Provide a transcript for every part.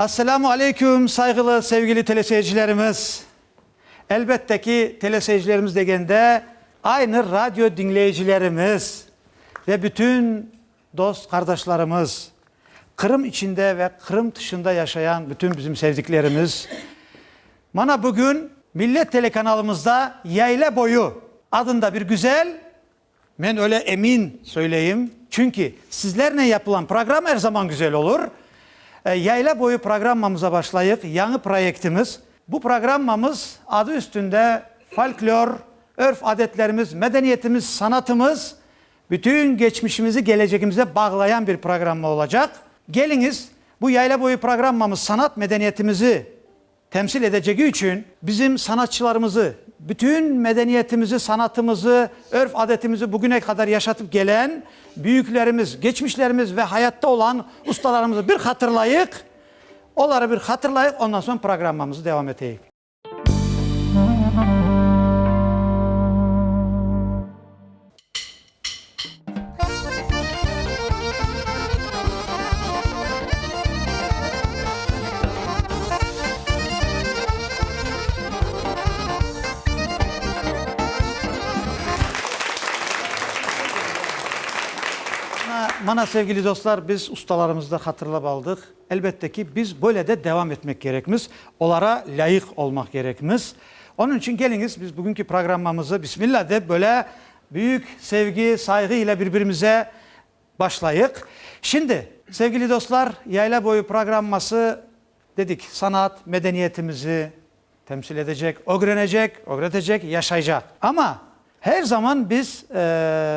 Esselamu aleyküm, sayğılı, sevgili teleseyircilerimiz! Elbette ki, teleseyircilerimiz degende, aynı radio diñleyicilerimiz ve bütün dost qardaşlarımız, Qırım içinde ve Qırım tışında yaşayan bütün bizim sevdiklerimiz. Mana bugün Millet telekanalımızda Yayla boyu adında bir güzel Men öyle emin söyleyim, çünki sizlernen yapılan programma er zaman güzel olur. Yayla boyu programmamıza başlayıq, yañı proyektimiz. Bu programmamız adı üstünde folklor, örf-adetlerimiz, medeniyetimiz, sanatımız, bütün geçmişimizi gelecegimize bağlayan bir programma olacaq. Keliñiz, bu yayla boyu programmamız sanat medeniyetimizi Temsil edecegi içün. Bizim sanatçılarımızı, bütün medeniyetimizi, sanatımızı, örf-adetimizi bugüne qadar yaşatıp gelen büyüklerimiz, geçmişlerimiz ve hayatta olan ustalarımızı bir hatırlayıq, oları bir hatırlayıq, ondan soñ programmamızı devam eteyik. Mana, sevgili dostlar, biz ustalarımızı da hatırlap aldıq. Elbette ki, biz böyle de devam etmek kerekmiz, olara lâyıq olmaq kerekmiz. Onıñ içün keliñiz, biz bugünki programmamızı, bismillah dep, böyle Büyük sevgi, sayğı ile birbirimize başlayıq. Şimdi, sevgili dostlar, Yayla boyu programması, dedik, sanat, medeniyetimizi temsil edecek, ögrenecek, ögretecek, yaşaycaq. Amma her zaman biz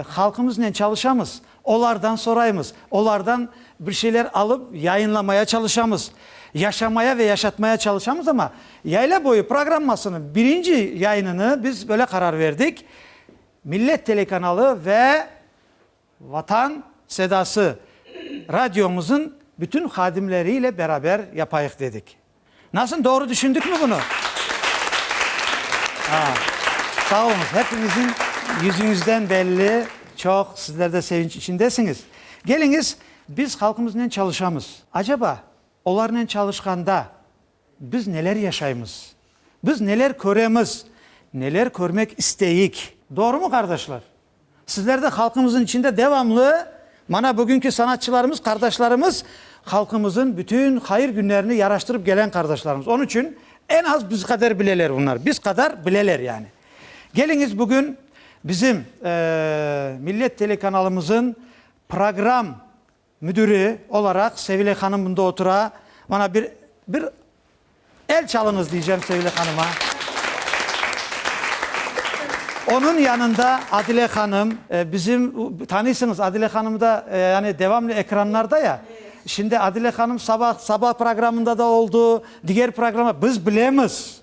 halqımıznen çalışamız, Olardan soraymız, olardan bir şeyler alıp yayınlamaya çalışamız, yaşamaya ve yaşatmaya çalışamız, amma Yayla boyu programmasınıñ birinci yayınını biz böyle qarar verdik, Millet telekanalı ve Vatan sedası radiomızıñ bütün hadimleriyle beraber yapayıq dedik. Nasıl, doğru tüşündikmi bunı? Sağ oluñız, hepiñizniñ yüzüñizden belli, çoq sizler de sevinç içindesiñiz. Keliñiz, biz halqımıznen çalışamız. Acaba, olarnen çalışqanda biz neler yaşaymız? Biz neler köremiz, neler körmek isteyik? Doğrumı, qardaşlar? Sizler de halqımızın içinde devamlı mana bugünki sanatçılarımız, qardaşlarımız, halqımızın bütün hayır günlerini yaraştırıp gelen qardaşlarımız. Onıñ içün en az biz qadar bileler bunlar, biz qadar bileler yani. Keliñiz bugün bizim Millet telekanalımızın program Müdüri olaraq Sevile hanım bunda otura. Bana bir, bir el çalıñız diycem Sevile hanıma. Onıñ yanında Adile hanım, bizim, tanıysıñız Adile hanımı da, yani devamlı ekranlarda ya. Şimdi Adile hanım sabah, sabah programında da oldu, diger programda, biz bilemiz.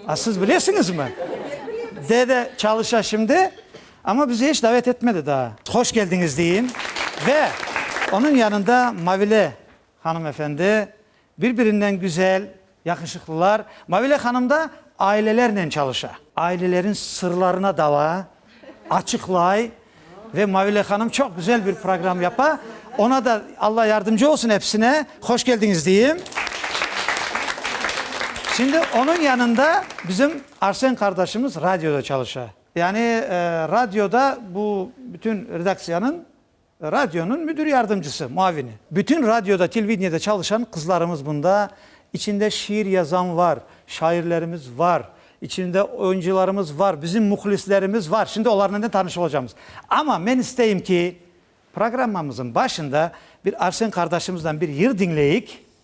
A siz bilesiñizmi? Dede çalışa şimdi. Amma bizi eç davet etmedi daa. Hoş keldiñiz deyiñ ve onıñ yanında Mavile hanımefendi, bir-birinden güzel, yaqışıqlılar. Mavile hanım da ailelernen çalışa. Ailelerin sırlarına dala, açıqlay ve Mavile hanım çoq güzel bir program yapa. Ona da Alla yardımcı olsun episine. Hoş keldiñiz deyiñ. Şimdi onıñ yanında bizim Arsen qardaşımız radioda çalışa. Yani radioda bu bütün redaksiyanıñ, radionıñ müdir yardımcısı, muavini. Bütün radioda, televideniede çalışan qızlarımız bunda, içinde şiir yazan var, şairlerimiz var, içinde oyuncılarımız var, bizim muhlislerimiz var. Şimdi olarnıñnen tanış olacağımız. Amma men isteyim ki, programmamızıñ başında bir Arsen qardaşımızdan bir yır diñleyik.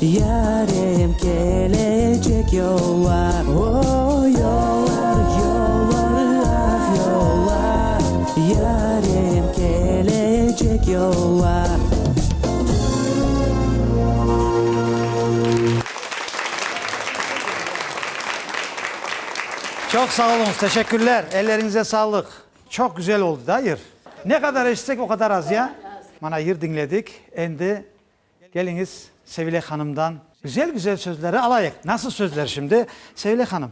Yarem kelecek yollar, O, yollar, yollar, ah, yollar, Yarem kelecek yollar. Çoq sağ oluñız, teşekkürler, elleriñize sağlıq. Çoq güzel oldı da yır. Ne qadar eşitsek, o qadar az, ya? Mana, yır diñledik, endi Keliñiz, Sevile hanımdan güzel-güzel sözleri alayıq. Nasıl sözler şimdi? Sevile hanım,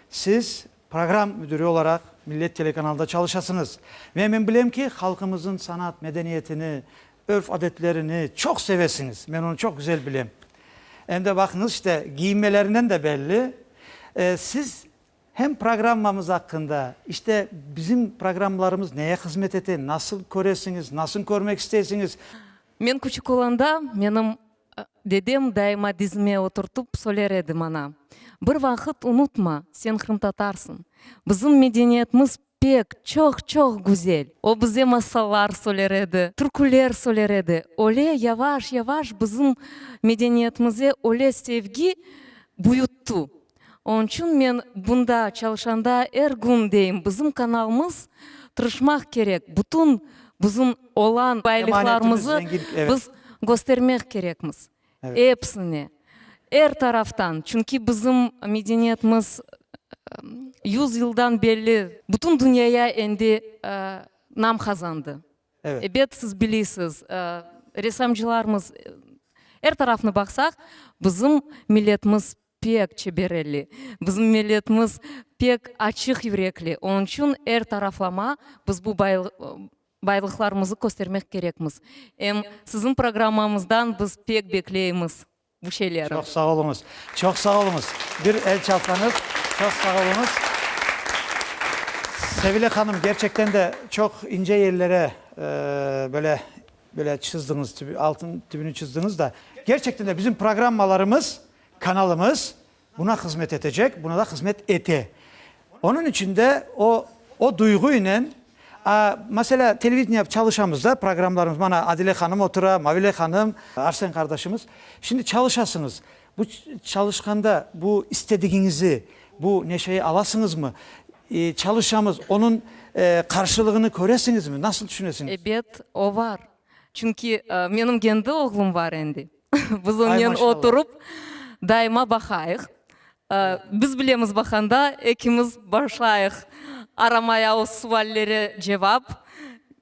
siz program müdüri olaraq Millet telekanalında çalışasıñız. Ve men bilem ki, halqımızın sanat medeniyetini, örf-adetlerini çoq sevesiñiz. Men onı çoq güzel bilem. Em de baqıñız, işte, giyinmelerinden de belli. Siz hem programmamız aqqında, işte, bizim programmalarımız neye hızmet ete, nasıl köresiñiz, nasıl körmek isteysiñiz? Men küçük olanda, menim dedem daima dizime oturtıp söyler edi maña, Bir vaqıt unutma, sen qırımtatarsıñ. Bizim medeniyetimiz pek, çoq, çoq güzel. O bize masallar söyler edi, türküler söyler edi. Öyle yavaş, yavaş bizim medeniyetimize öyle sevgi büyüttü. Onıñ içün men bunda çalışanda er gün deyim, bizim kanalımız tırışmaq kerek, bütün bizim olan baylıqlarımızı biz köstermek kerekmiz, episini, er taraftan, çünki bizim medeniyetimiz yüz yıldan belli bütün dünyaya endi nam qazandı. Ebet, siz biliysiz, ressamcılarımız, er tarafnı baqsaq, bizim milletimiz Pek çeber elli. Bizim milletimiz pek açıq yürekli. Onıñ içün er taraflama biz bu baylıqlarımızı köstermek kerekmiz. Em siziñ programmamızdan biz pek bekleymiz bu şeylerni. Çoq sağ oluñız. Çoq sağ oluñız. Bir el çalsañız. Çoq sağ oluñız. Sevile hanım, kerçekten de çoq ince ellere böyle, böyle çızdıñız, altın tübüni çızdıñız da. Kerçekten de bizim programmalarımız Kanalımız buna hızmet etecek, buna da hızmet ete. Onıñ içün de o, o duyğuynen, a, meselâ, televideniye çalışamız da, programlarımız, mana, Adile hanım otura, Mavile hanım, Arsen qardaşımız. Şimdi çalışasıñız. Bu çalışqanda bu istedigiñizi, bu neşeyi alasıñızmı? E, çalışamız, onıñ, e, qarşılığını köresiñizmi? Nasıl tüşünesiñiz? Ebet, o var. Çünki, e, menim kendi oğlum var endi. Biz onnen oturup daima baqayıq. Biz bilemiz baqanda ekimiz başlayıq aramaya o suvallere cevap.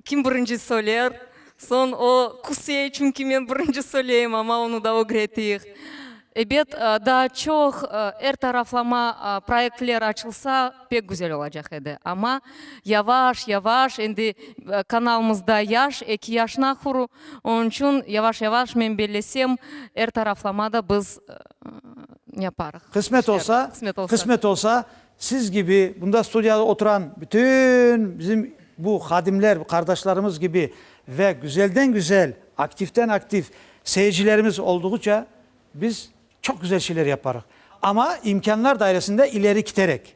Kim birinci söyler, soñ o küsey, çünki men birinci söyleyim, amma onı da ögretiyik. Ebet, daa çoq er taraflama proyektler açılsa pek güzel olacaq edi. Amma yavaş-yavaş, endi kanalımızda yaş, eki yaş nahuru, Onıñ içün yavaş-yavaş, men bellesem, er taraflama da biz yaparıq. Qısmet olsa, qısmet olsa, siz kibi bunda studiyada oturan bütün bizim bu hadimler, bu qardaşlarımız kibi ve güzelden-güzel, aktivden-aktiv seyircilerimiz olduğıça biz çoq güzel şeyler yaparıq. Amma imkânlar dairesinde ileri kiterek.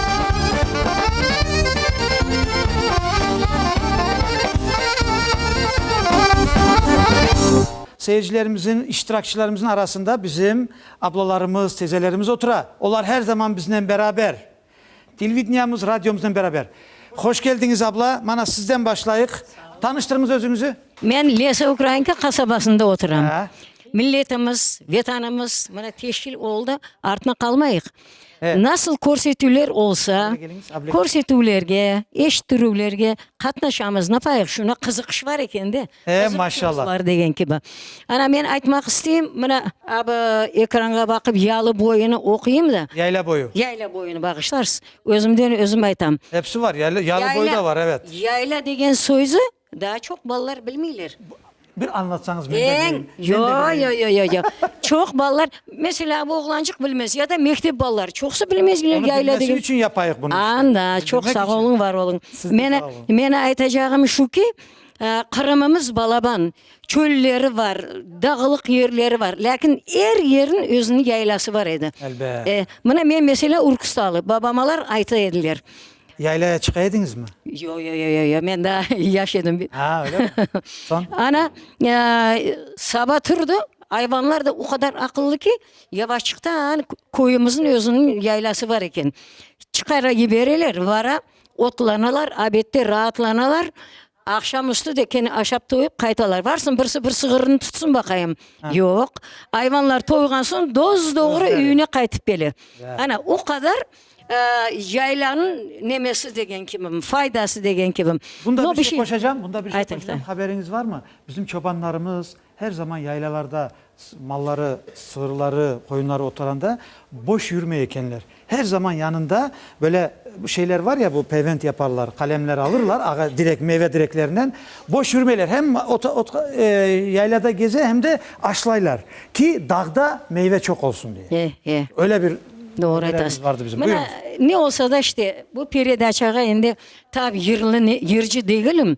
Seyircilerimizin, iştirakçilerimizin arasında bizim ablalarımız, tezelerimiz otura. Olar her zaman biznen beraber. Televideniemiz, radiomıznen beraber. Hoş keldiñiz, abla. Mana, sizden başlayıq. Tanıştırıñız özüñizi. Men Lesa Ukrainka qasabasında oturam. Milletimiz, Vetanımız, mana, teşkil oldı, artına qalmayıq. Nasıl körsetüvler olsa, körsetüvlerge, eşittirüvlerge qatnaşamız. Napayıq, şuna qızıqış bar eken de. Maşallah. Var degen kibi. Ana, men aytmaq isteyim, mına, ab ekranğa baqıp Yalı boyunı oquyım da. Yayla boyu. Yayla boyunı, bağışlarsız. Özümden özüm aytam. Episi var, yayla, Yalı boyu da var, evet. Yayla degen sözü Daa çoq balalar bilmeyler. Bir añlatsañız men de bileyim. Eñ, yo, yo, yo, yo, yo. Çoq balalar, meselâ, bu oğlancıq bilmez, ya da mektep balaları, çoqusı bilmez bile yayla degeni. Onı bilmesi içün yapayıq bunı işte. Anda, çoq sağ oluñ, var oluñ. Siz de sağ oluñ. Meni, meni aytacağım şu ki, Qırımımız balaban, çölleri var, dağlıq yerleri var, lâkin er yerniñ özüniñ yaylası var edi. Elbet. E, mına men, meselâ, Ürküstalı, babamalar ayta ediler, Yaylaya çıqa ediñizmi? Yo-yo-yo-yo-yo, men daa yaş edim. Aa, öyle mi? Soñ? Ana, saba turdı, ayvanlar da o qadar aqıllı ki, yavaşçıqtan köyümizniñ özüniñ yaylası bar eken, çıqara yibereler, vara, otlanalar, abedde raatlanalar, Aqşam üstü de kene aşap toyup qaytalar. Varsın, birisi bir sığırını tutsın baqayım. Yoq. Ayvanlar toyğan soñ doz-doğru üyüne qaytıp kele. Ana, o qadar yaylanıñ nemesi degen kibim, faydası degen kibim. Bunda bir şey qoşacam, bunda bir şey qoşacam, haberiñiz barmı? Bizim çobanlarımız, Her zaman yaylalarda malları, sığırları, qoyunları oturanda boş yürmey ekenler. Her zaman yanında böyle şeyler var ya, bu pevent yaparlar, qalemler alırlar, ağa direk, meyve direklerinden. Boş yürmeyler, hem yaylada geze, hem de aşlaylar ki, dağda meyve çoq olsun diye. E, e. Öyle bir Doğru aytasız. vardı bizim. Buyurunız. Mına, ne olsa da işte, bu peredaçağa endi tam yırlı, yırcı degilim.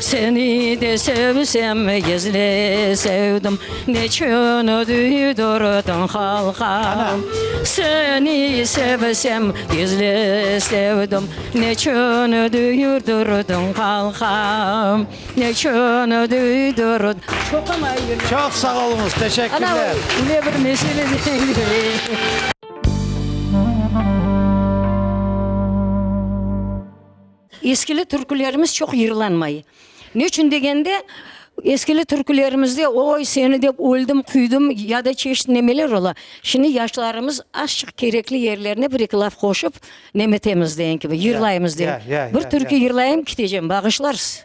Seni de sevsem, gizli sevdim, Neçün duydurdın halqa? Seni sevsem, gizli sevdim, Neçün duydurdın halqa? Neçün duydurdın? Çoq sağ oluñız, teşekkürler! Eskili türkülerimiz çoq yırlanmay. Ne içün degende, eskili türkülerimizde oy, seni dep öldim, küydim ya da çeşit nemeler ola. Şimdi yaşlarımız azçıq kerekli yerlerine bir eki laf qoşıp nemetemiz deyen kibi, yırlaymız deyen. Bir türkü yırlayım, ketecem, bağışlarsız.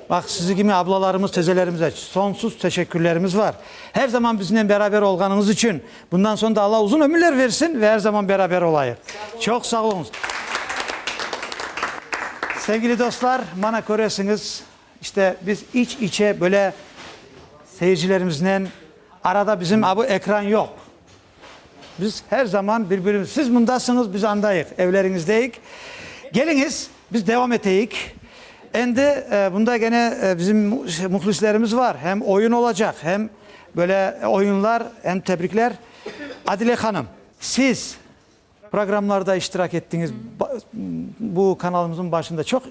Bax, sizi kimi ablalarımız, tezelerimize sonsuz teşekkürlerimiz bar. Her zaman biznen beraber olğanıñız içün. Bundan soñ da Alla uzun ömürler versin ve her zaman beraber olayıq. Çoq sağ oluñız. Sevgili dostlar, mana köresiñiz, işte, biz iç-içe böyle seyircilerimiznen, arada bizim a bu ekran yoq, Biz her zaman bir-birimiz, siz mındasıñız, biz andayıq, evleriñizdeyik. Keliñiz, biz devam eteyik. Endi bunda gene bizim mühlislerimiz var, hem oyun olacaq, hem böyle oyunlar, hem tebrikler. Adile hanım, siz. Programlarda iştirak ettiñiz, bu kanalımızın başında çoq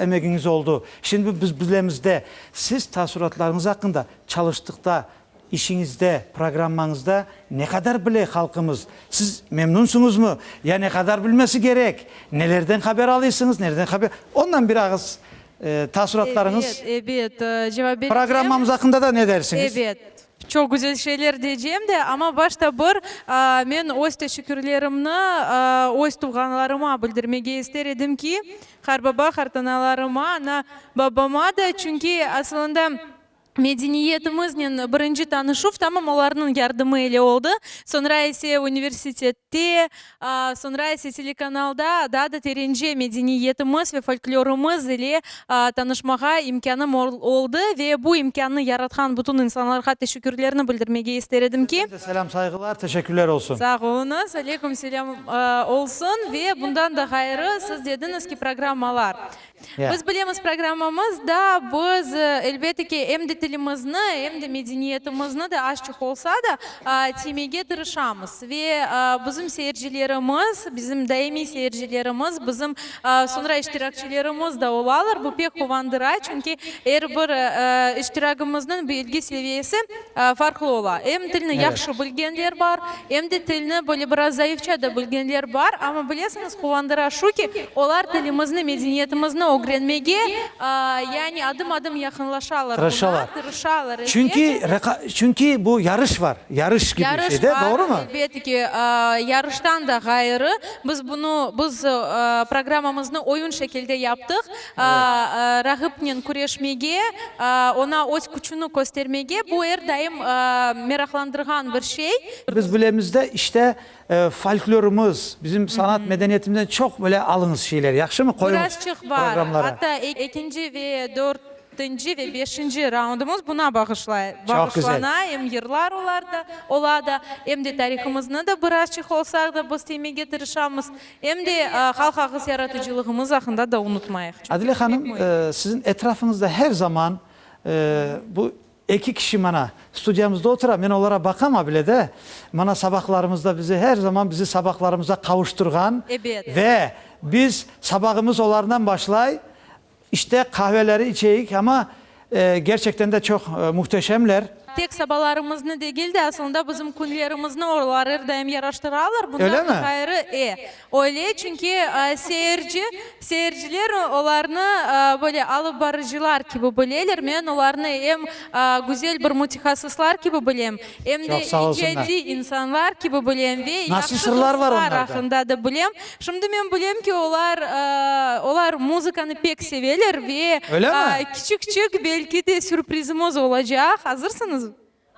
emegiñiz oldı. Şimdi biz bilemiz de, siz taassuratlarıñız aqqında, çalıştıqta, işiñizde, programmañızda ne qadar bile halqımız? Siz memnunsıñızmı? Ya ne qadar bilmesi kerek? Nelerden haber alıysıñız? Nereden haber? Ondan bir ağız taassuratlarıñız, Ebet, ebet, cevap bereceğim. Programmamız aqqında da ne dersiñiz? Ebet. Çoq güzel şeyler deycem de, amma başta bir men öz teşekkürlerimni öz tuvğanlarıma bildirmege ister edim ki, qarbaba, qartanalarıma, ana, babama da, çünki asılında medeniyetimiznen birinci tanışuv tamam olarnıñ yardımı ile oldı, soñra ise universitette, Soñra ise telekanalda daa da terence medeniyetimiz ve folklorımız ile tanışmağa imkânım oldı ve bu imkânnı yaratqan bütün insanlarğa teşekkürlerni bildirmege ister edim ki, Sizden de selâm-sayğılar, teşekkürler olsun. Sağ oluñız, aleyküm selâm olsun ve bundan da ğayrı, siz dediñiz ki, programmalar Biz bilemiz, programmamız da biz, elbette ki, em de tilimizni, em de medeniyetimizni de azçıq olsa da tiymege tırışamız. Ve bizim seyircilerimiz, bizim daimiy seyircilerimiz, bizim soñra iştirakçilerimiz da olalar. Bu pek quvandıra, çünki er bir iştiragimizniñ bilgi seviyesi, Farqlı ola. Em tilni yahşı bilgenler bar, em de tilni böyle biraz zayıfça da bilgenler bar. Amma bilesiñiz, quvandıra şu ki, olar tilimizni, medeniyetimizni ögrenmege, yani adım-adım yaqınlaşalar buna, tırışalar. Tırışalar, elbet. Çünki reqa, çünki bu yarış var, yarış kibi bir şey de, doğrumı? Yarış var, elbet ki. Yarıştan da ğayrı, biz bunu, biz programmamıznı oyun şekilde yaptıq. Rağıpnen küreşmege, oña öz küçüni köstermege, bu er daim meraqlandırğan bir şey. Biz bilemiz de, işte, folklorımız, bizim sanat medeniyetimizden çoq böyle alıñız şeyler, yahşımı? Qoyuñız programlara. Biraz çıqıp bar. Hatta ekinci ve dörtünci ve beşinci raundımız buna bağışlay, bağışlana, em yırlar olar da, ola da, em de tarihımıznı da birazçıq olsa da biz teymege tırışamız. Em de halq ağız yaratıcılığımız aqqında da unutmayıq. Adile hanım, siziñ etrafıñızda her zaman bu eki kişi mana studiyamızda otura, men olara baqam a bile de, mana sabaqlarımızda bizi her zaman bizi sabaqlarımıza qavuştırğan ve biz sabağımız olardan başlay, İşte, qahveleri içeyik, amma gerçekten de çoq muhteşemler. Tek sabalarımıznı degil de, asılında bizim künlerimizni olar er daim yaraştıralar. Bundan da ğayrı, e, öyle, çünki seyirci, seyirciler olarnı böyle alıp barıcılar kibi bileler. Men olarnı em güzel bir mütehassıslar kibi bilem, Em de icadiy insanlar kibi bilem ve yahşı dostlar aqqında da bilem. Şimdi men bilem ki, olar, olar muzıkanı pek seveler ve kiçik-kiçik belki de sürprizimiz olacaq. Azırsıñızmı?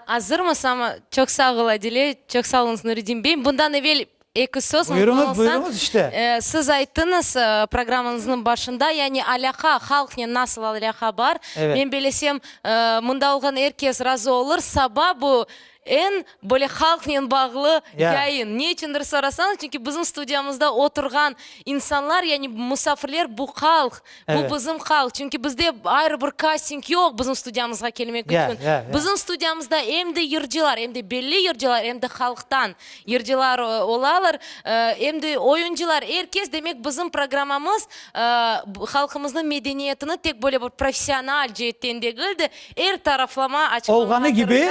Azırmız, amma çoq sağ ol, Adile. Çoq sağ oluñız, Nuretdin bey. Bundan evel Eki söz unutılsa, siz ayttıñız programıñıznıñ başında, yani alâqa, halqnen nasıl alâqa bar. Men belesem, mında olğan er kes razı olur. Saba bu eñ böyle halqnen bağlı yayın. Ne içündir sorasañız, çünki bizim studiyamızda oturğan insanlar, yani musafirler bu halq, Bu bizim haq, çünki bizde ayrı bir kasting yoq bizim studiyamızğa kelmek içün. Bizim studiyamızda em de yırcılar, em de belli yırcılar, em de halqtan yırcılar olalar, em de oyuncılar, er kes, demek, bizim programmamız halqımıznıñ medeniyetini tek böyle bir professional ceetten degil de, er taraflama açıqlamağa tırışa. Olğanı kibi,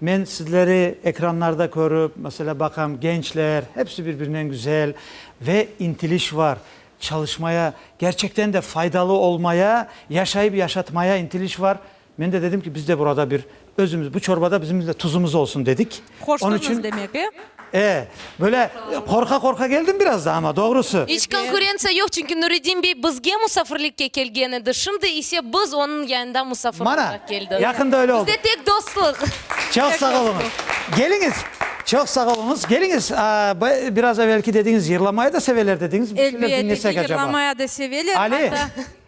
Men sizleri ekranlarda körüp, mesela, baqam, gençler, hepsi bir-birinen güzel ve intiliş var, çalışmaya, kerçekten de faydalı olmaya, yaşayıp yaşatmaya intiliş var. Men de dedim ki, biz de burada bir özümiz, bu çorbada bizim de tuzumuz olsun dedik. Onun Hoştuñız için. demek, e? E, böyle qorqa-qorqa keldim biraz da, amma doğrusı. İç konkurentsiya yoq, çünki Nuriddin bey bizge musafirlikke kelgen edi, şimdi ise biz onıñ yanında musafir olğan keldik. Mana, yaqında öyle oldı. Bizde tek dostluq. Çoq sağ oluñız. Keliñiz, çoq sağ oluñız. Keliñiz, biraz evelki dediñiz, yırlamaya da seveler dediñiz, bir şeyler diñlesek acaba? Elbette ki, yırlamaya da seveler. Ali!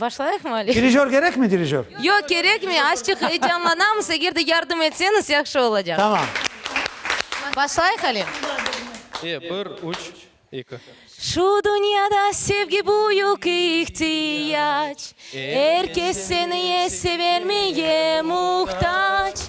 Başlayıqmı Ali? Dirijör kerekmi, dirijör? Yoq, kerekmi, azçıq eyecanlanamız, eger de yardım etseñiz, yahşı olacaq. Tamam. Başlayıq Ali? Eye, bir, üç, eki. Şu dünyada sevgi büyük ihtiyac, Er kes seniye severmeye muhtac,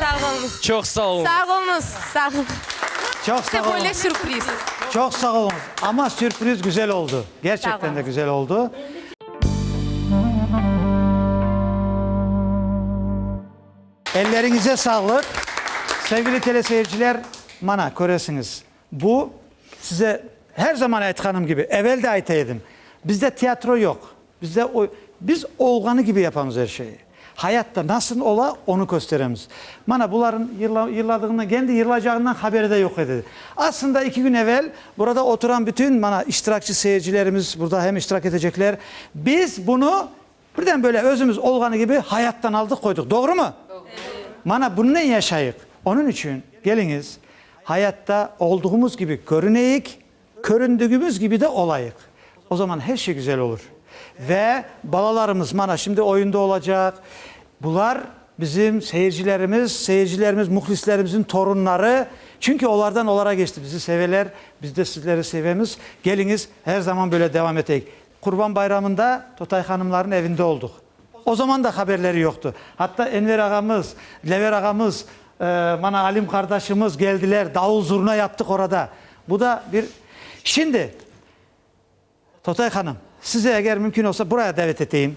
Sağ olunız. Çoq sağ olunız. Sağ olunız. Sağ olunız. Çoq sağ olunız. İşte böyle sürpriz. Çoq sağ olunız. Amma sürpriz güzel oldu. Gerçekten de güzel oldu. Elleriñize sağlıq. Sevgili teleseyirciler, mana, köresiñiz. Bu, size her zaman aytqanım kibi, evel de ayta edim, bizde teatro yoq, bizde oy, biz olğanı kibi yapamız er şeyi. Hayatta nasıl ola, onı kösteremiz. Mana buların yırla, yırladığından, kendi yırlaycağından haberi de yoq edi. Aslında iki kün evel burada oturan bütün, mana, iştirakçı seyircilerimiz, burada hem iştirak etecekler, biz bunı Birden böyle özümiz olğanı kibi hayattan aldıq qoydıq, doğrumı? Doğru. Mana bunnen yaşayıq. Onıñ içün keliñiz, hayatta olduğımız kibi körüneyik, köründügimiz kibi de olayıq. O zaman her şey güzel olur. Ve balalarımız mana şimdi oyunda olacaq, bular bizim seyircilerimiz, seyircilerimiz, muhlislerimizin torunları, çünki olardan olara keçti. Bizi seveler, biz de sizleri sevemiz. Keliñiz, her zaman böyle devam eteyik. Qurban bayramında Totay hanımlarnıñ evinde olduq. O zaman da haberleri yoqtı. Atta Enver ağamız, Dilever ağamız, mana Alim qardaşımız geldiler, davul-zurna yaptıq orada. Bu da bir Şimdi, Totay hanım, sizi eger mümkün olsa buraya davet eteyim.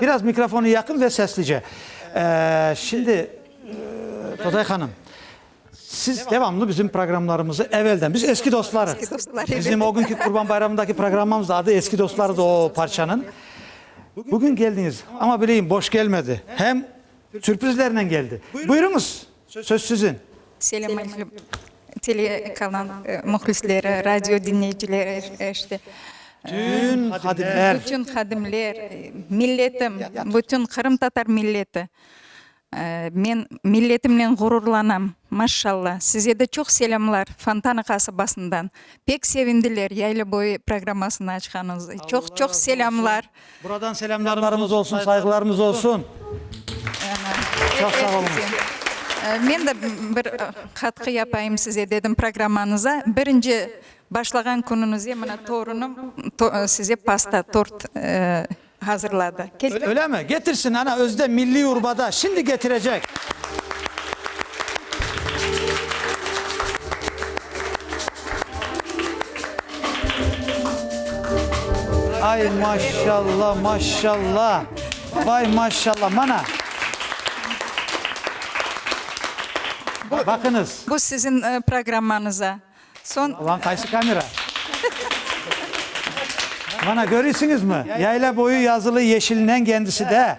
Biraz mikrofona yaqın ve seslice. Şimdi, Today hanım, siz devamlı bizim programlarımızı evelden, biz eski dostlarız. Bizim o günki Qurban Bayramındaki programmamız da adı Eski dostlarız o parçanıñ. Bugün geldiñiz, amma bileyim boş gelmedi, hem sürprizlernen geldi. Buyurıñız. Söz siziñ. Selâm aleyküm, telekanal mühlisleri, radio diñleyicileri, işte. Bütün hadimler. Bütün hadimler, milletim, bütün qırımtatar milleti. Men milletimnen ğururlanam, maşşalla. Size de çoq selâmlar Fontana qasabasından. Pek sevindiler, Yaylaboyu programmasını açqanıñız. Çoq-çoq selâmlar. Buradan selâmlarımız olsun, sayğılarımız olsun. Çoq sağ oluñız. Men de bir qatqı yapayım size, dedim programmanıza. Birinci başlağan künüñizde mına torunım size pasta, tort hazırladı. Ölemi? Getirsin, ana özü de milliy urbada, şimdi getirecek. Ay maşşalla, maşşalla! Vay maşşalla! Mana! Baqıñız! Bu siziñ programmañıza. Soñ. Ulan qaysı kamera? Mana, körüsiñizmi? Yayla boyu yazılı yeşilinen kendisi de.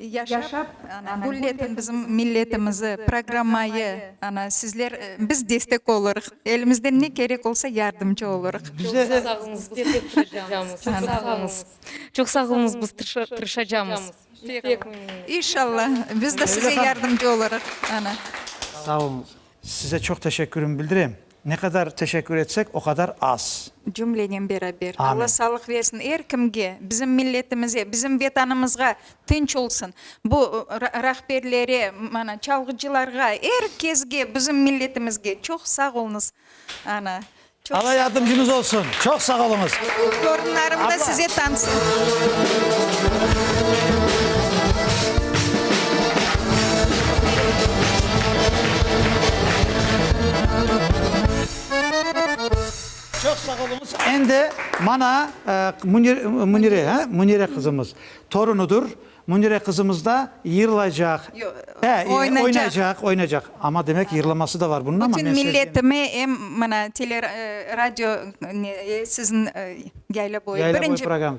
Yaşap, ana, gülletin bizim milletimizi, programmayı, ana, sizler, biz destek olurıq, elimizden ne kerek olsa yardımcı olurıq. Bize de. Çoq sağ oluñız, biz tırışacağımız. İnşallah, biz de size yardımcı olurıq, ana. Sağ oluñız. Size çoq teşekkürim bildirem. Ne qadar teşekkür etsek, o qadar az. Cümlenen beraber. Alla sağlıq versin er kimge, bizim milletimize, bizim Vetanımızğa tınç olsun. Bu rahberlere, mana, çalğıcılarğa, er kesge, bizim milletimizge çoq sağ oluñız, ana. Alâ yardımcıñız olsun. Çoq sağ oluñız. Torunlarımda size tansın. Çoq sağ oluñız. Endi mana Münire, Münire qızımız torunıdır. Münire qızımız da yırlaycaq. He, oynaycaq, oynaycaq. Amma demek yırlaması da var bunun amma. Bütün milletime em mana tele radio sizin yayla boyu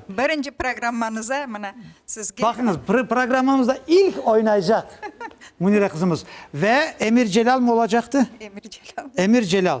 birinci programmanıza mana sizge. Baqıñız programmamızda ilk oynaycaq Münire qızımız ve Emir Celal mı olacaqtı? Emir Celal. Emir Celal.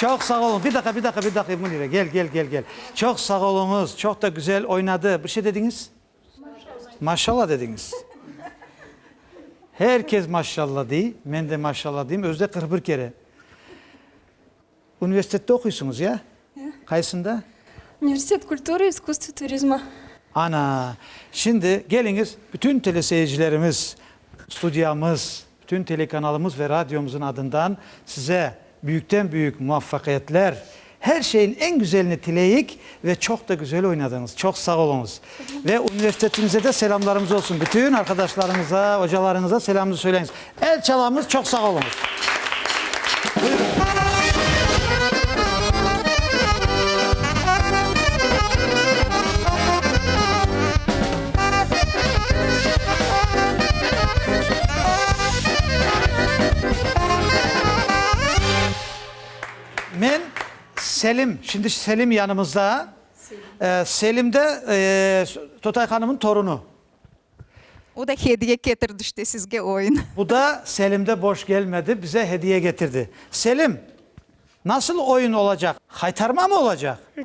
Çoq sağ oluñ. Bir daqa, bir daqa, bir daqa, Münire, gel, gel, gel, gel. Çoq sağ oluñız, çoq da güzel oynadı. Bir şey dediñiz? Maşallah. Maşallah dediñiz. Her kes maşallah dey, men de maşallah deyim, özü de qırq bir kere. Universitette oquysıñız, ya? Ya. Qaysında? Universitet kultura, iskustvo, turizma. Ana, şimdi keliñiz, bütün teleseyircilerimiz, studiyamız, bütün telekanalımız ve radyomızın adından size büyükten-büyük muvaffaqiyetler, her şeyin eñ güzelini tileyik Ve çoq da güzel oynadıñız. Çoq sağ oluñız. Ve universitetimize de selamlarımız olsun. Bütün arqadaşlarıñıza, ocalarıñıza selamımızı söyleñiz. El çalamız. Çoq sağ oluñız. Selim, şimdi Selim yanımızda. Selim de Totay hanımnıñ torunu. O da hediye ketirdi işte sizge oyun. Bu da Selim de boş gelmedi, bize hediye getirdi. Selim, nasıl oyun olacaq? Haytarma mı olacaq? Da.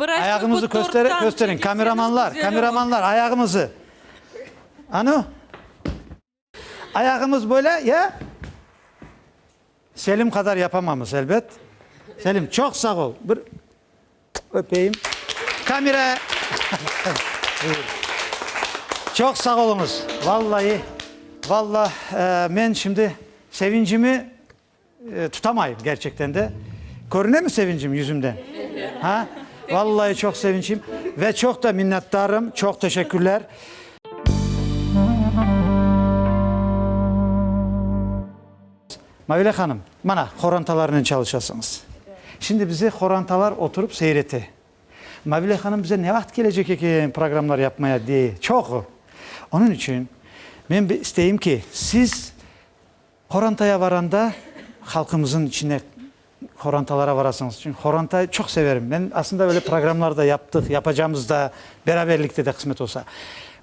Ayağıñızı kösteriñ, kösteriñ, kameramanlar, kameramanlar, ayağıñızı. Anü, ayağımız böyle, ya? Selim qadar yapamamız, elbet. Selim, çoq sağ ol. Bir öpeyim. Kamera. Çoq sağ oluñız. Vallahi, vallah, men şimdi sevincimi. Tutamayım, gerçekten de. Körünemi sevincim yüzümde? Ha? Vallai çoq sevinçim ve çoq da minnetdarım. Çoq teşekkürler. Mavile hanım, mana, qorantalarnen çalışasıñız. Şimdi bize qorantalar oturıp seyrete. Mavile hanım bize ne vaqıt kelecek eken programlar yapmaya diye çoq. Onıñ içün men bir isteyim ki, siz, Qorantaya varanda halqımızın içine qorantalara varasıñız. Çünki qorantayı çoq severim men. Aslında böyle programlar da yaptıq, yapacamız da, beraberlikte de qısmet olsa.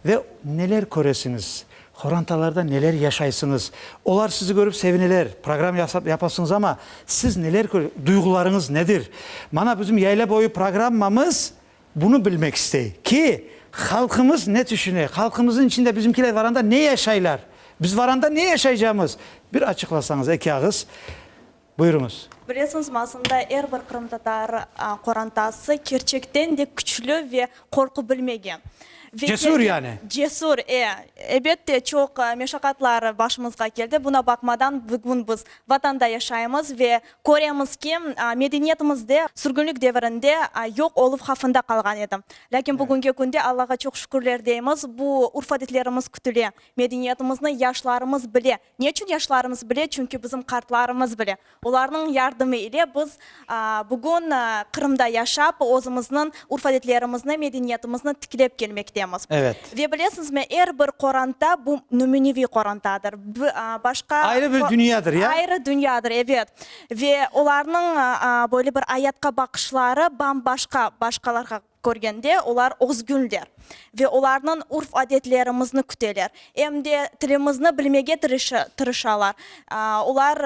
Ve neler köresiñiz, qorantalarda neler yaşaysıñız. Olar sizi körip sevineler, program yasap yapasıñız ama siz neler kö, duyğularıñız nedir? Mana bizim yayla boyu programmamız Bunı bilmek istey ki, halqımız ne tüşüne, halqımıznıñ içinde bizimkiler varanda ne yaşaylar, biz varanda ne yaşaycamız, bir açıqlasañız, eki ağız. Buyurıñız. Bilesiñiz, masında er bir qırımtatar qorantası kerçekten de küçlü ve qorqu bilmegen. Cesur yani. Cesur, e, ebette, çoq meşaqatlar başımızğa keldi. Buna baqmadan, bugün biz Vatanda yaşaymız ve Köremiz ki, medeniyetimizde sürgünlik devirinde yoq oluv havfında qalğan edi. Lâkin bugüngi künde Allağa çoq şükürler deymiz, bu urf-adetlerimiz kütüle, medeniyetimizni yaşlarımız bile. Ne içün yaşlarımız bile? Çünki bizim qartlarımız bile. Olarnıñ yardımı ile biz bugün Qırımda yaşap, özümizniñ Urf-adetlerimizni, medeniyetimizni tiklep kelmektemiz. Evet. Ve bilesiñizmi, er bir qoranta bu nümüneviy qorantadır. Bi, a, başqa. Ayrı bir dünyadır, ya? Ayrı dünyadır, evet. Ve olarnıñ, a, böyle bir ayatqa baqışları bam-başqa, başqalarğa körgende, olar özgünler. Ve olarnıñ urf-adetlerimizni küteler. Em de tilimizni bilmege tırışı, tırışalar. A, olar.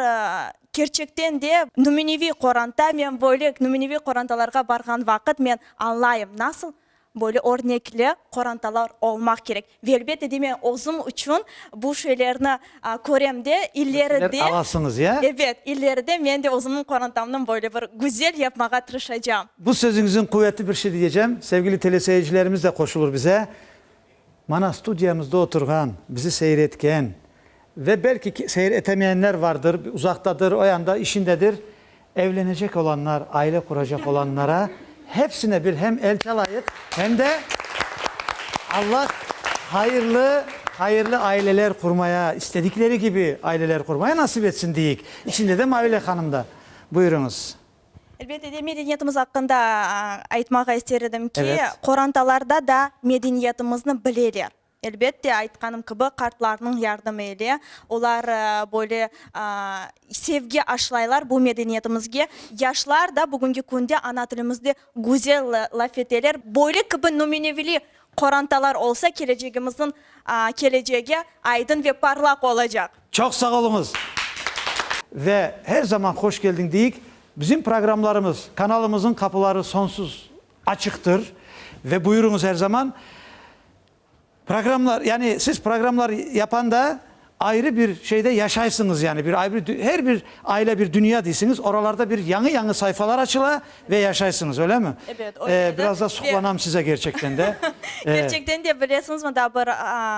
Kerçekten de, nümüneviy qoranta, men böyle nümüneviy qorantalarğa barğan vaqıt men añlayım, nasıl böyle örnekli qorantalar olmaq kerek. Ve elbette de, men özüm içün bu şeylerni körem de, illeri de, ebet, illeri de men de özümniñ qorantamnı böyle bir güzel yapmağa tırışacağım. Bu sözüñizin quvetli bir şey diyecem, sevgili teleseyircilerimiz de qoşulur bize. Mana, studiyamızda oturğan, bizi seyir etken ve belki seyir etemeyenler vardır, uzaqtadır, o yanda, işindedir, evlenecek olanlar, aile quracaq olanlara hepsine bir hem el çalayıq, hem de Allah hayırlı, hayırlı aileler qurmaya, istedikleri kibi aileler qurmaya nasip etsin deyik, içinde de Mavile hanım da. Buyurıñız. Elbette de, medeniyetimiz aqqında aytmağa ister edim ki, qorantalarda da medeniyetimizni bileler. Elbette, aytqanım kibi, qartlarnıñ yardımı ile, olar böyle sevgi aşlaylar bu medeniyetimizge. Yaşlar da bugünki künde ana tilimizde güzel laf eteler. Böyle kibi nümunevli Qorantalar olsa kelecegimizniñ kelecegi aydın ve parlaq olacaq. Çoq sağ oluñız ve her zaman hoş keldiñ deyik. Bizim programlarımız, kanalımızın qapıları sonsuz açıqtır ve buyuruñız her zaman. Programlar, yani siz programlar yapanda, Ayrı bir şeyde yaşaysıñız, yani bir ayrı bir, her bir aile bir dünya deysiñiz, oralarda bir yañı-yañı sayfalar açıla ve yaşaysıñız, öylemi? Ebet, öyle edi. Biraz da suqlanam size kerçekten de. Kerçekten de, bilesiñizmi, daa bir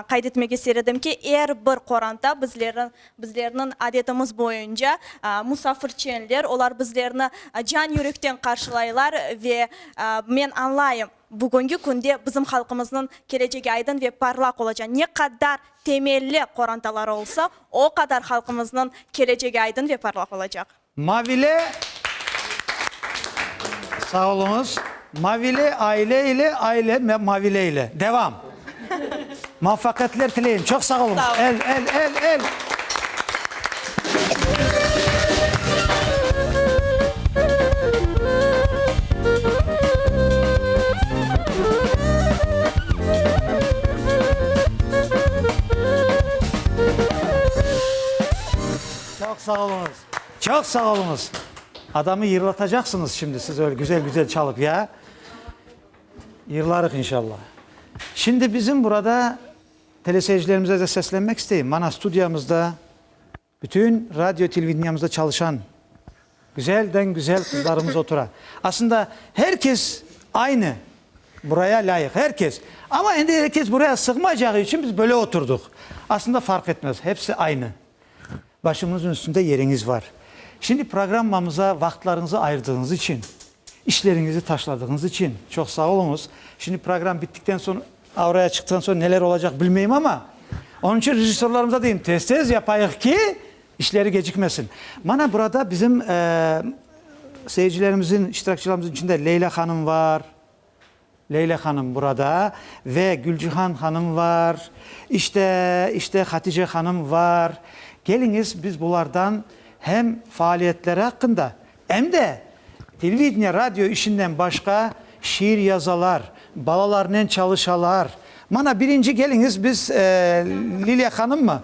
qayd etmek isteredim ki, er bir qoranta bizleri, bizlerniñ adetimiz boyunca musafirçenler, olar bizlerni can-yürekten qarşılaylar ve men añlayım, Bugüngi künde bizim halqımıznıñ kelecegi aydın ve parlaq olaca, ne qadar temelli qorantaları olsa, o qadar halqımıznıñ kelecegi aydın ve parlaq olacaq. Mavile Sağ oluñız. Mavile aile ile, aile Mavile ile. Devam. Muvafaqiyetler tileyim. Çoq sağ olunız. Sağ olun. El, el, el, el. Çoq sağ olunuz. Çoq sağ olunuz. Adamı yırlatacaqsınız şimdi siz öyle güzel-güzel çalıp, ya. Yırlarıq inşalla. Şimdi bizim burada teleseyircilerimize de seslenmek isteyim. Mana studiyamızda bütün radio televideniamızda çalışan güzelden güzel qızlarımız otura. Aslında her kes aynı buraya lâyıq, her kes. Amma endi her kes buraya sığmayacağı içün biz böyle oturdıq. Aslında farq etmez, hepsi aynı. Başımıñız üstünde yeriñiz bar. Şimdi programmamıza vaqıtlarıñızı ayırdığıñız içün, işleriñizi taşladığıñız içün çoq sağ oluñız. Şimdi program bittikten soñ, auraya çıqtıqtan soñ neler olacaq bilmeyim, amma onıñ içün rejissörlarımıza deyim, tez-tez yapayıq ki, işleri gecikmesin. Mana burada bizim seyircilerimizin, iştirakçılarımızın içinde Leyla hanım bar. Leyla hanım burada ve Gülcihan hanım var. İşte, işte Hatice hanım var. Keliñiz, biz bulardan hem faaliyetleri aqqında, em de televideniye, radio işinden başqa şiir yazalar, balalarnen çalışalar. Mana birinci keliñiz, biz Liliya hanımmı?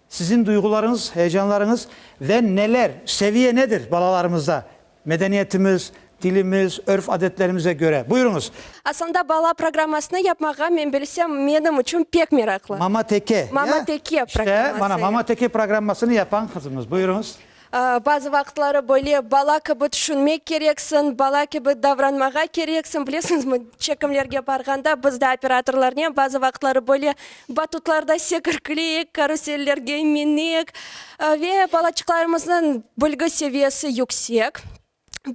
Siziñ duyğularıñız, heyecanlarıñız ve neler, seviye nedir balalarımızda, medeniyetimiz, tilimiz, örf-adetlerimize köre? Buyurıñız. Aslında bala programmasını yapmağa men bilsem menim içün pek meraqlı. Mama-teke, ya? Mama-teke programması, ya. İşte, mana, mama-teke programmasını yapan qızımız. Buyurıñız. Bazı vaqıtları böyle bala kibi tüşünmek kereksiñ, bala kibi davranmağa kereksiñ. Bilesiñizmi, çekimlerge barğanda biz de operatorlarnen bazı vaqıtları böyle batutlarda sekirklik, karusellerge minek ve balaçıqlarımıznıñ bilgi seviyesi yüksek.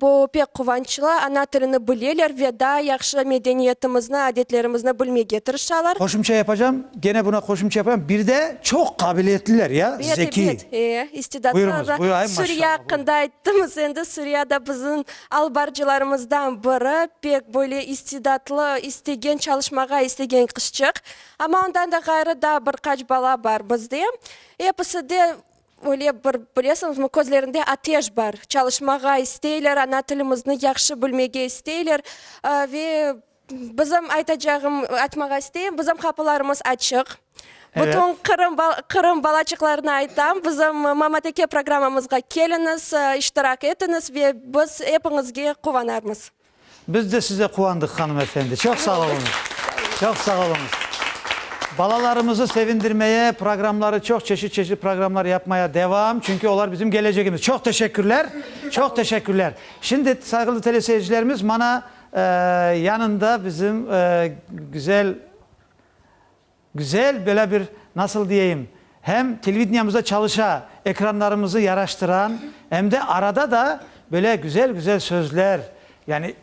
Bu pek quvançlı, ana tilini bileler ve daa yahşı medeniyetimizni, adetlerimizni bilmege tırışalar. Qoşımça yapacam, gene buna qoşımça yapacam, bir de çoq qabiliyetliler, ya, Bet, zekiy. bet, e, istidatlı. Buyurıñız, buyur, ay, maşallah, buyur. Suriye aqqında ayttımız, endi Suriye da bizim albarcılarımızdan biri, pek böyle istidatlı, istegen çalışmağa istegen qızçıq. Amma ondan da ğayrı daa bir qaç bala bar bizde. Episi de Öyle bir, bilesiñizmi, közlerinde ateş bar, çalışmağa isteyler, ana tilimizni yahşı bilmege isteyler. Ve bizim, aytacağım, aytmağa isteyim, bizim qapılarımız açıq. Bütün Qırım, Qırım balaçıqlarına aytam, bizim Mamateke programmamızğa keliñiz, iştirak etiñiz ve biz epiñizge quvanarmız. Biz de size quvandıq, hanım efendi. Çoq sağ oluñız. Çoq sağ oluñız. Balalarımızı sevindirmeye, programları çoq çeşit-çeşit programlar yapmaya devam, çünki olar bizim gelecegimiz. Çoq teşekkürler, çoq teşekkürler. Şimdi, sayğılı teleseyircilerimiz, mana, eee, yanında bizim, eee, güzel. Güzel, böyle bir, nasıl diyeyim, hem televideniamızda çalışa, ekranlarımızı yaraştıran, em de arada da böyle güzel-güzel sözler, yani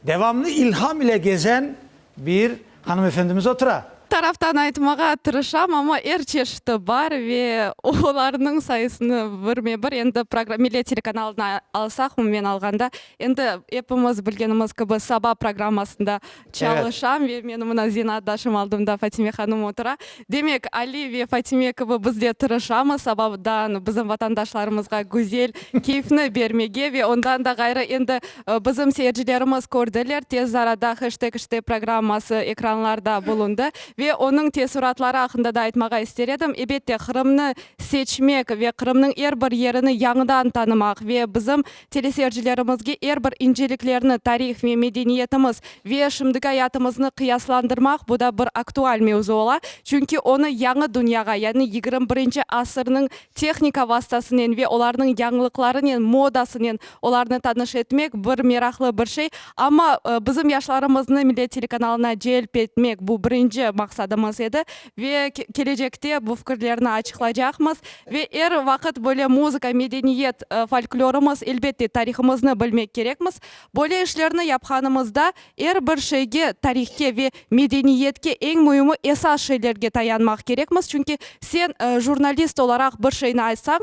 devamlı ilham ile gezen bir hanımefendimiz otura. Taraftan aytmağa tırışam, amma er çeşiti bar ve olarnıñ sayısını birme-bir endi program, Millet telekanalını alsaq, umumen alğanda, endi epimiz bilgenimiz kibi, Saba programmasında Çalışam ve meni mına zenaatdaşım aldımda Fatime hanım otura. Demek, Ali ve Fatime kibi biz de tırışamız, sabadan bizim vatandaşlarımızğa güzel keyfni bermege ve ondan da ğayrı endi bizim seyircilerimiz kördiler, tez arada Heştek İşte programması ekranlarda bulundı ve onıñ teessuratları aqqında da aytmağa ister edim. Ebette, Qırımnı seçmek ve Qırımnıñ er bir yerini yañıdan tanımaq ve bizim Teleseyrcilerimizge er bir inceliklerni, tarih ve medeniyetimiz, ve şimdiki ayatımıznı qıyaslandırmaq, bu da bir aktual mevzu ola, çünki onı yañı dünyağa, yani yigirmi birinci asırnıñ tehnika vastasınen ve olarnıñ yañılıqlarınen, modasınen olarnı tanış etmek bir meraqlı bir şey. Amma bizim yaşlarımıznı Millet telekanalına celp etmek, bu birinci maqsadımız edi. Ve kelecekte bu fikirlerni açıqlaycaqmız. Ve er vaqıt böyle muzıka, medeniyet, folklorımız, elbette, tarihımıznı bilmek kerekmiz. Böyle işlerni yapqanımızda er bir şeyge, tarihke ve medeniyetke, eñ müimi esas şeylerge tayanmaq kerekmiz. Çünki sen jurnalist olaraq bir şeyni aytsañ,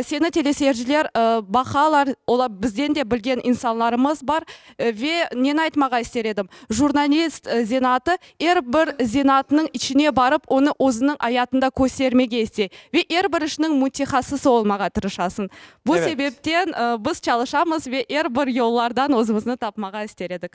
seni teleseyirciler baqalar, olar bizden de bilgen insanlarımız bar. Ve neni aytmağa ister edim, jurnalist zenaatı Er bir zenaatnıñ içine barıp, onı özüniñ ayatında köstermege iste ve er bir işniñ mütehassısı olmağa tırışasıñ. Bu Evet. sebepten biz çalışamız ve er bir yollardan özümizni tapmağa ister edik.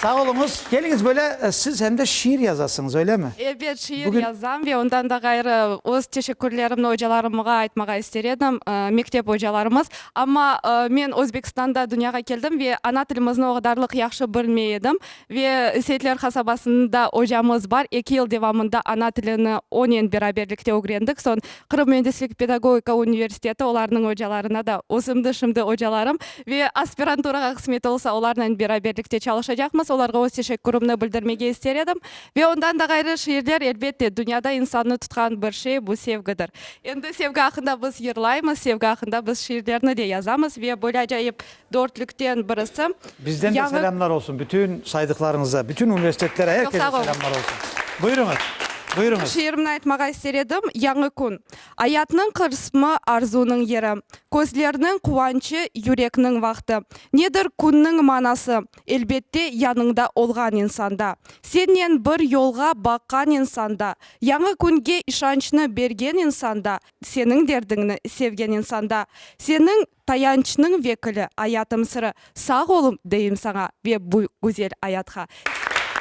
Sağ oluñız. Keliñiz, böyle siz hem de şiir yazasıñız, öylemi? Ebet, şiir Bugün- yazam ve ondan da ğayrı öz teşekkürlerimni ocalarımğa aytmağa ister edim. Mektep ocalarımız. Amma men Özbekistanda dünyağa keldim ve ana tilimizni o qadarlıq yahşı bilmey edim. Ve Seyitler qasabasında ocamız bar, eki yıl devamında ana tilini onen beraberlikte ögrendik. Soñ Qırım müendislik pedagogika universiteti, olarnıñ ocalarına da özümniñ şimdi ocalarım. Ve aspiranturağa qısmet olsa, olarnen beraberlikte çalışacaqmız. Olarğa öz teşekkürimni bildirmege ister edim. Ve ondan da ğayrı, şiirler, elbette, dünyada insannı tutqan bir şey, bu sevgidir. Endi sevgi aqqında biz yırlaymız, sevgi aqqında biz şiirlerni de yazamız ve böyle acayip dörtlükten birisi, Bizden de yañı. selâmlar olsun bütün saydıqlarıñıza, bütün universitetler, er kese selâmlar olsun. Buyurıñız, buyurıñız. Şiirimni aytmağa ister edim, Yañı kün. Ayatnıñ qırsmı, arzunıñ yeri. Közlerniñ quvançı, yürekniñ vaqtı. Nedir künniñ manası? Elbette, yanıñda olğan insanda. Sennen bir yolğa baqqan insanda, yañı künge işançnı bergen insanda, seniñ derdiñni sevgen insanda. Seniñ, tayançnıñ vekili, ayatım sırı. Sağ olum deyim saña ve bu güzel ayatqa.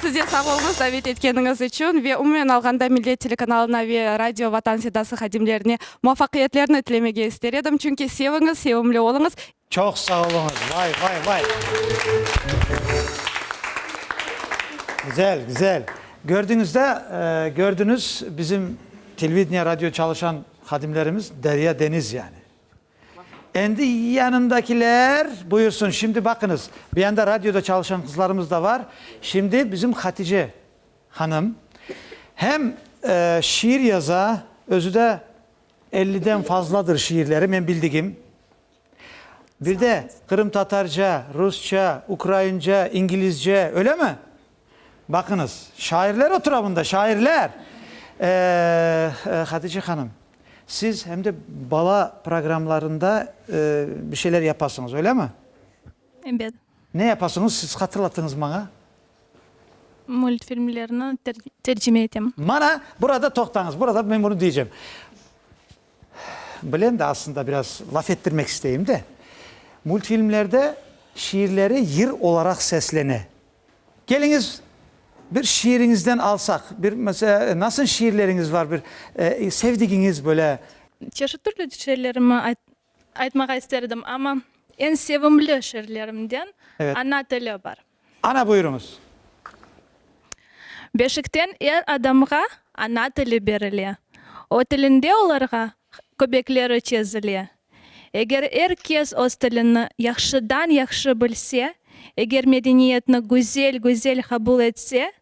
Siz de sağ olunız davet etkeniñiz içün ve umumen alğanda Millet telekanalına ve Radio Vatan Sedası hadimlerine muvafaqiyetlerni tilemege ister edim, çünki seviñiz, sevimli oluñız. Çoq sağ oluñız, vay, vay, vay. Güzel, güzel. Gördüñiz da, gördüñiz bizim televideniye, radio çalışan hadimlerimiz, derya, deniz yani. Endi yanındakiler buyursın. Şimdi baqıñız, bu yanda radioda çalışan qızlarımız da bar. Şimdi bizim Hatice hanım hem şiir yaza, özü de elliden fazladır şiirleri, men bildigim. Bir de qırımtatarca, rusça, ukraince, ingilizce, öylemi? Baqıñız, şairler otura bunda, şairler! Hatice hanım, siz hem de bala programlarında bir şeyler yapasıñız, öylemi? Ebet. Ne yapasıñız, siz hatırlatıñız maña? Multfilmlerni tercime etem. Mana, burada toqtañız, burada men bunı deycem. Bilem de, aslında, biraz laf ettirmek isteyim de. Multfilmlerde şiirleri yır olaraq seslene. Keliñiz, bir şiiriñizden alsaq, bir, mesele, nasıl şiirleriñiz var, bir sevdigiñiz, böyle? Çeşit türlü şiirlerimi aytmağa isterdim, amma eñ sevimli şiirlerimden Ana tili bar. Ana, buyurıñız. Beşikten er adamğa ana tili berile. O tilinde olarğa köbekleri çezile. Eger er kes öz tilini yahşıdan yahşı bilse, eger medeniyetni güzel güzel qabul etse,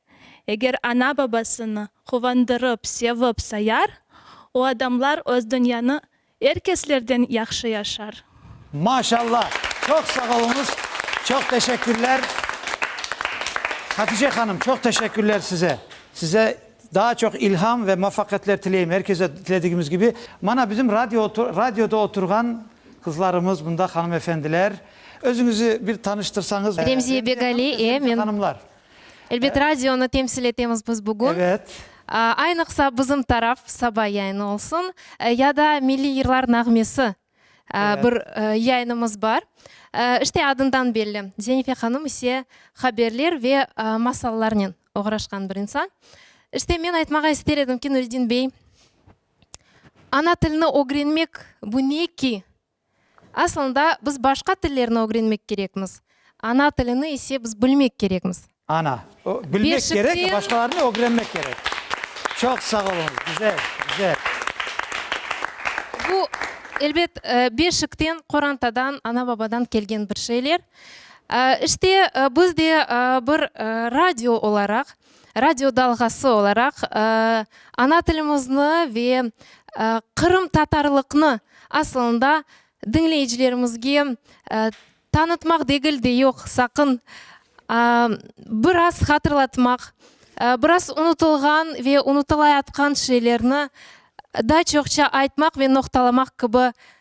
eger ana-babasını quvandırıp, sevip sayar, o adamlar öz dünyanı er keslerden yahşı yaşar. Maşalla! Çoq sağ oluñız! Çoq teşekkürler! Hatice hanım, çoq teşekkürler size! Size. Daa çoq ilham ve muvafaqiyatler tileyim er kese tiledigimiz kibi. Mana bizim radio radioda oturğan qızlarımız bunda hanımefendiler. Özüñizi bir tanıştırsañız. Remziye Begali, e, men. Hanımlar. Elbet radionı temsil etemiz biz bugün. Evet. Aynıqsa bizim taraf saba yayını olsun ya da milliy yırlar nağmesi bir yayınımız bar. İşte adından belli. Zenife hanım ise haberler ve masallarnen oğraşqan bir insan. İşte men aytmağa ister edim ki, Nuriddin bey, ana tilni ögrenmek, bu ne ki? Aslında biz başqa tillerni ögrenmek kerekmiz, ana tilini ise biz bilmek kerekmiz. Ana, bilmek kerek, başqalarını ögrenmek kerek. Çoq sağ oluñız, güzel, güzel. Bu, elbet, Beşikten, qorantadan, ana-babadan kelgen bir şeyler. İşte, biz de bir radio olaraq, radio dalğası olaraq ana tilimizni ve qırımtatarlıqnı asılında diñleyicilerimizge tanıtmaq degil de yoq, saqın, biraz hatırlatmaq, biraz unutılğan ve unutılayatqan şeylerni daa çoqça aytmaq ve noqtalamaq kibi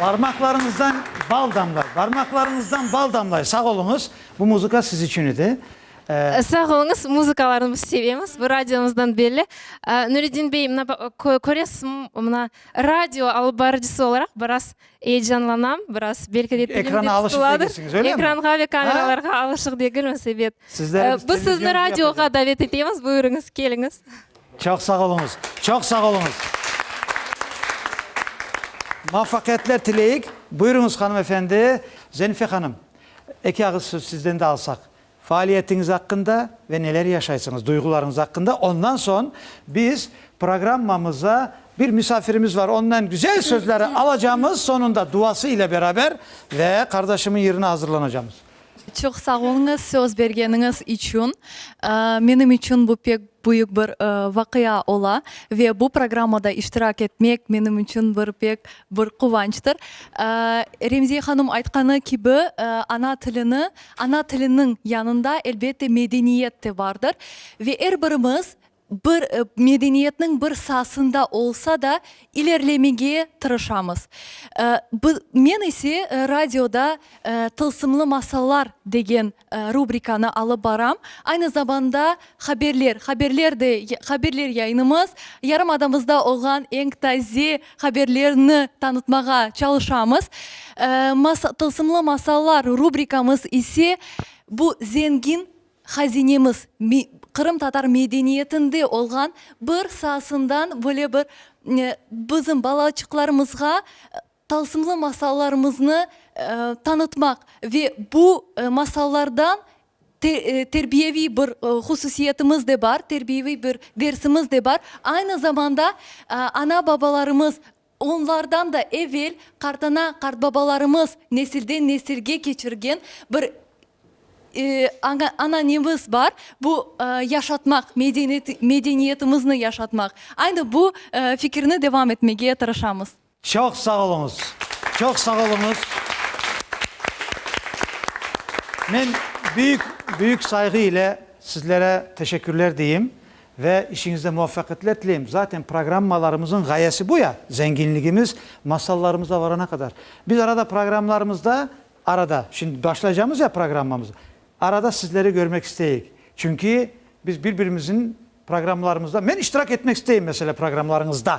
Barmaqlarıñızdan bal damlay, barmaqlarıñızdan bal damlay. Sağ oluñız, bu muzıka siz içün edi. Sağ oluñız, muzıkalarnı biz sevemiz, bu radiomızdan belli. Nuretdin bey, mına köresiz, mına radio alıp barıcısı olaraq biraz Eyecanlanam biraz, belki de tilim de tutuladır. Ekranğa ve kameralarğa alışıq degilmiz, ebet. Biz sizni radioğa davet etemiz, buyurıñız, keliñiz. Çoq sağ oluñız, çoq sağ oluñız. Muvafaqiyetler tileyik. Buyurıñız, hanımefendi. Zenife hanım, eki ağız söz sizden de alsaq. Faaliyetiñiz aqqında ve neler yaşaysıñız, duyğularıñız aqqında, ondan soñ biz programmamıza bir misafirimiz var, onnen güzel sözleri alacamız, soñunda duası ile beraber ve qardaşımıñ yırına azırlanacamız. Çoq sağ oluñız söz bergeniñiz içün. Menim içün bu pek büyük bir vaqia ola ve bu programmada iştirak etmek menim içün bir pek bir quvançtır. Remziye hanım aytqanı kibi, ana tilini Ana tiliniñ yanında, elbette, medeniyet te bardır. Ve er birimiz bir medeniyetniñ bir saasında olsa da ilerlemege tırışamız. Men ise radioda Tılsımlı masallar degen rubrikanı alıp baram. Aynı zamanda haberler, haberler de, haberler yayınımız, yarımadamızda olğan eñ taze haberlerni tanıtmağa çalışamız. Tılsımlı masallar rubrikamız ise bu zengin hazinemiz, qırımtatar medeniyetinde olğan bir saasından böyle bir bizim balaçıqlarımızğa tılsımlı masallarımıznı tanıtmaq ve bu masallardan Terbiyeviy bir hususiyetimiz de bar, terbiyeviy bir dersimiz de bar. Aynı zamanda ana-babalarımız, onlardan da evel qartana, qartbabalarımız nesilden nesilge keçirgen bir ananemiz bar, bu yaşatmaq, medeniyetimizni yaşatmaq. Aynı bu fikirni devam etmege tırışamız. Çoq sağ oluñız, çoq sağ oluñız. Men büyük, büyük sayğı ile sizlere teşekkürler deyim ve işiñizde muvafaqiyetler tileyim. Zaten programmalarımızıñ ğayesi bu ya, zenginligimiz masallarımıza varana qadar. Biz arada programlarımızda, arada, şimdi başlaycamız ya programmamızı, arada sizleri görmek isteyik. Çünki biz bir-birimizin programlarımızda, men iştirak etmek isteyim, mesela, programlarıñızda.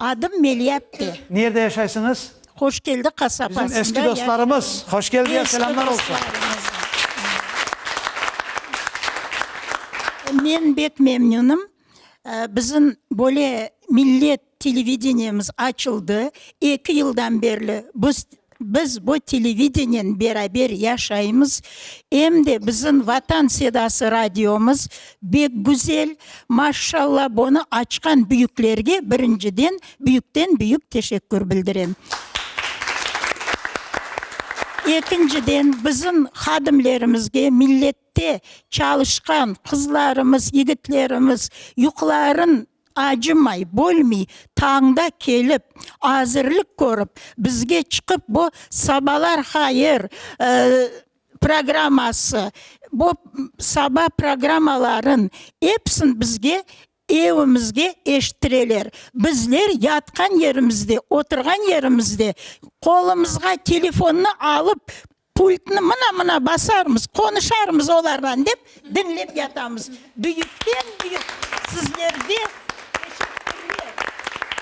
Adım Meliatte. Nerde yaşaysıñız? Hoşkeldi qasabasında yaşayım. Bizim eski dostlarımız. Hoşkeldiye selamlar olsun. Eski dostlarımız. Men bek memnünüm. Bizim böyle millet televideniyemiz açıldı. Eki yıldan berli biz Biz bu televideniyen beraber yaşaymız, em de bizim Vatan Sedası radiomız bek güzel, maşşalla, bunı açqan büyüklerge birinciden büyükten büyük teşekkür bildirem. Ekinciden bizim hadimlerimizge, millet Te, çalışqan qızlarımız, yigitlerimiz yuqların acımay, bölmey, tañda kelip, azirlik körip, bizge çıqıp bu Sabalar hayır programması, bu saba programmaların epsin bizge Evimizge eşittireler. Bizler yatqan yerimizde, oturğan yerimizde qolumızğa telefonnı alıp, pultnı mına-mına basarmız, qonuşarmız olardan, dep diñlep yatamız. Büyükten-büyük sizlerge teşekkürler.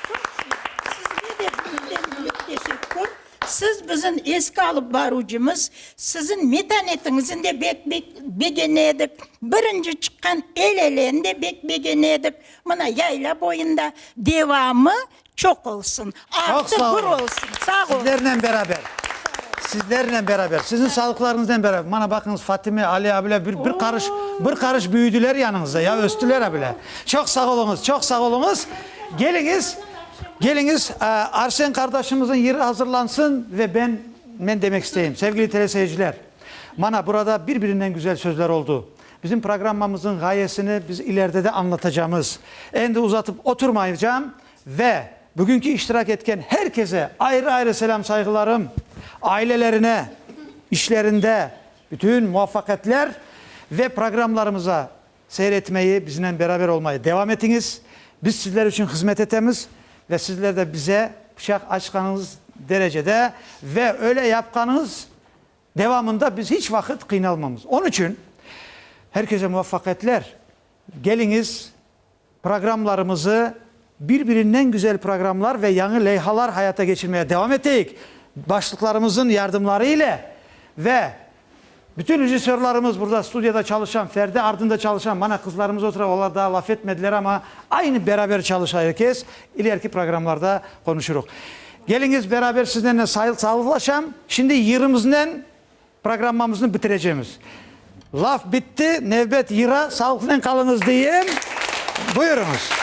Çoq sağ ol. Sizge de büyükten-büyük teşekkür. Siz bizim eski alıp baruvcımız, siziñ metanetiñizni de bek begene edik, birinci çıqqan el eleni de bek begene edik, mına yayla boyunda devamı çoq olsun, artı bir olsun. Sağ olun. Sizlernen beraber, sizlernen beraber, siziñ sağlıqlarıñıznen beraber, mana baqıñız Fatime, Ali abile bir bir qarış, bir qarış büyüdiler yanıñızda ya, östüler abile. Çoq sağ oluñız, çoq sağ oluñız, geliñiz, Keliñiz, Arsen qardaşımıznıñ yırı azırlansın ve ben men demek isteyim. Sevgili teleseyirciler, mana burada bir-birinden güzel sözler oldu. Bizim programmamıznıñ ğayesini biz ileride de añlatacamız. Endi uzatıp oturmaycam ve bugünki iştirak etken her kese ayrı-ayrı selâm-sayğılarım, ailelerine, işlerinde bütün muvafaqiyetler ve programmlarımıza Seyir etmeyi, biznen beraber olmayı devam etiñiz. Biz sizler içün hızmet etemiz ve sizler de bize quçaq açqanıñız derecede ve öyle yapqanıñız devamında biz hiç vaqıt qıynalmamız. Onıçün, herkese muvaffaqiyetler. Keliñiz. Programmalarımızı, bir-birinden güzel programmalar ve yañı leyhalar hayata geçirmeye devam eteyik, başlıqlarımızın yardımları ile ve bütün rejissörlarımız, burada studiyada çalışan, perde ardında çalışan, mana qızlarımız otura, olar daa laf etmediler, amma aynı beraber çalışa er kes, ileriki programmalarda qonuşuruq. Keliñiz, beraber sizlernen sayıltsalıqlaşam. Şimdi yırımıznen Programmamıznı bitirecemiz. Laf bitti, nevbet yıra, sağlıqnen qalıñız deyem. Buyurıñız.